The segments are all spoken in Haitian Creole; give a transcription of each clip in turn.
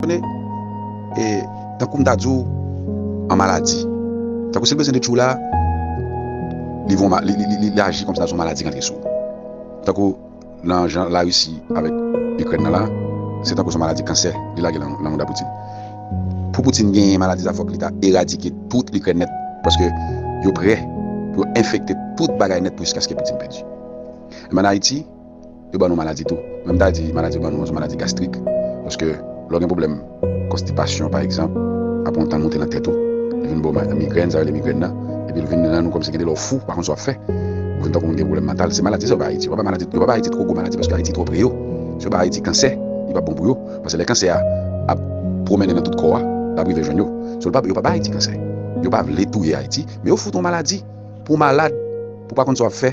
Konnen, e, tankou m ta di w, an maladi. Tankou si l bezwen de tchou la, li von, li aji kòm si ta di w maladi rantre sou ou. Tankou nan jan Larisi avèk Ikrèn nan la, se tankou son maladi kansè li lage nan mouda Poutin. Pou Poutin genyen maladi sa fòk li ta eradike tout Ikrèn nèt, paske yo prè pou yo enfekte tout bagay nèt pou jiskaske Poutin pèdi. Enben an Ayiti. yo ban nou maladi tou. Mwen m ta di maladi yo ban nou an se maladi gastrik. Paske lè w gen pwoblèm konstipasyon pa egzanp, apre yon tan l monte nan tèt ou, li vin ba w migrèn, sa yo rele migrèn nan, epi l vin rann ou kòmsi gen de lè w fou, ou pa konn sa w ap fè. Ou vin tankou moun ki gen pwoblèm mantal. Se maladi sa yo bay Ayiti. Yo pa bay maladi, yo pa bay Ayiti twò gwo maladi paske Ayiti twò pre yo. Si yo bay Ayiti kansè, li p ap bon pou yo. Paske lè kansè a ap pwomennen nan tout kò a, l ap rive jwenn yo. So l pa, yo pa bay Ayiti kansè. Yo pa vle touye Ayiti, men yo fout ou maladi. Pou w malad, pou w pa konn sa w ap fè,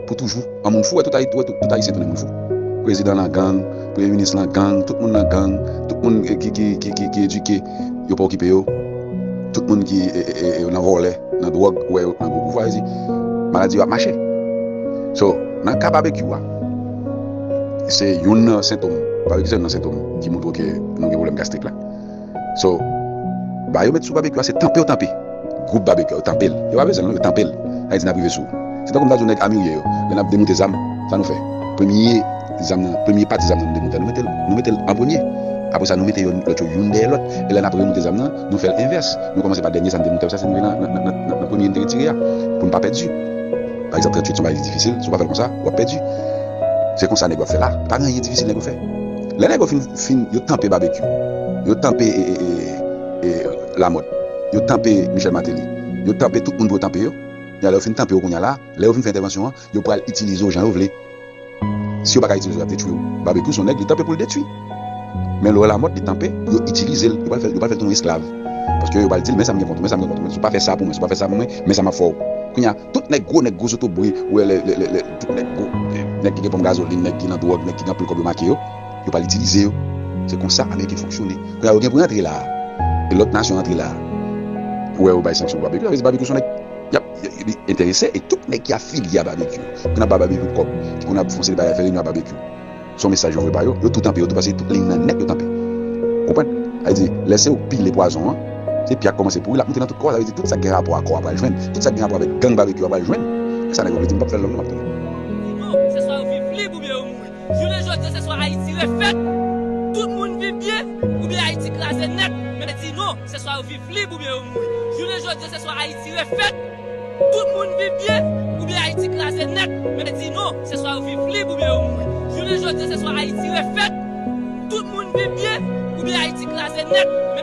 pou toujou. An moun fou, wè tout Ayiti, wè tout Ayisyen tounen moun fou. Prezidan lan gang, premye minis lan gang, tout moun lan gang, tout moun ki ki edike, yo pa okipe yo, tout moun ki nan vòlè, nan dwòg, ou wè yo nan gwo boujwazi, maladi yo ap mache. So, nan ka Babekyou a, se youn nan sentom, pa w ekze nan sentom ki montre w ke nou gen pwoblèm gastrik la. So ba yo met sou babecue a se tanpew tanpe group babecue a yo tanpel yo pa bezwenl non yo tanpel sa vle di nap rive sou se tankou m ta di w nèg amirye yo lè nap demoute zam sa nou fè premye zam nan premye pati zam nan nou demoute a nou metel nou metel an premye apre sa nou mete yo lòt yo youn dèyè lòt e lè nap remoute zam nan nou fèl envès nou kòmanse pa dènye zam demoute a sa se nou nan nan nan nan premye nou te retire a pou nou pa pèdi pa egzanp 38 son bagay ki difisil si w pa fèl konsa wap pèdi se konsa nèg yo ap fè la pa gen anyen difisil nèg yo fè. Lè nèg yo fin fin yo tanpe babekyou yo tanpe e lamòt yo tanpe michèl mateli yo tanpe tout moun pou yo tanpe yo lè yo fin tanpe yo kounya la lè yo fin fè entèvansyon an yo pral itilize w jan yo vle si yo paka itilize w yap detwi w babekyou son nèg li tanpe pou l detwi men lè w wè lamòt li tanpe yo itilize l yo pral fè yo pral fè l tounen esklav paske yo pral di l men sa m gen kont ou men sa m gen kont ou men si w pa fè sa pou mwen si w pa fè sa pou mwen men sa map fè w kounya. Tout nèg gwo nèg gwo zotobre ou wè lè lè lè tout nèg gwo nèg ki gen ponp gazolin nèg ki nan dwòg nèg ki gen anpil kòb yo make yo yo pral itilize yo se konsa ameriken fonksyone kounye a yo gen pou rantre la e lòt nasyon rantre la ou wè yo bay sanksyon pou babekyou sa vle di babekyou son nèg yap li enterese e tout nèg ki afilye a babekyou ki konn ap ba babekyou kòb ki konn ap fonse li bay fè reyinyon a babekyou. Son mesaj yo vwe ba yo, yo tou tanpe yo tou pase tout liy nan nèk yo tanpe. Ou konprann? Sa vle di, lè se ou k pile pwazon an, se pi a k kòmanse pouri, l ap moute nan tout kò a, sa vle di tout sa k gen rapò a kò a pral jwenn, tout sa k gen rapò avèk gang Babekyou a pral jwenn. E sa nèg yo vle di m pap fè l long non m ap tounen. Kidonk, se swa yo viv lib oubyen yo mouri. Jounen jodi an se swa Ayiti refèt, tout moun viv byen, oubyen Ayiti kraze nèt, men di non, se swa yo viv lib oubyen yo mouri. Jounen jodi an se swa Ayiti refèt. Tout moun viv byen oubyen Ayiti kraze nèt, men di non, se swa yo viv lib oubyen yo mouri. Jounen jodi se swa Ayiti refèt, tout moun viv byen oubyen Ayiti kraze nèt, men.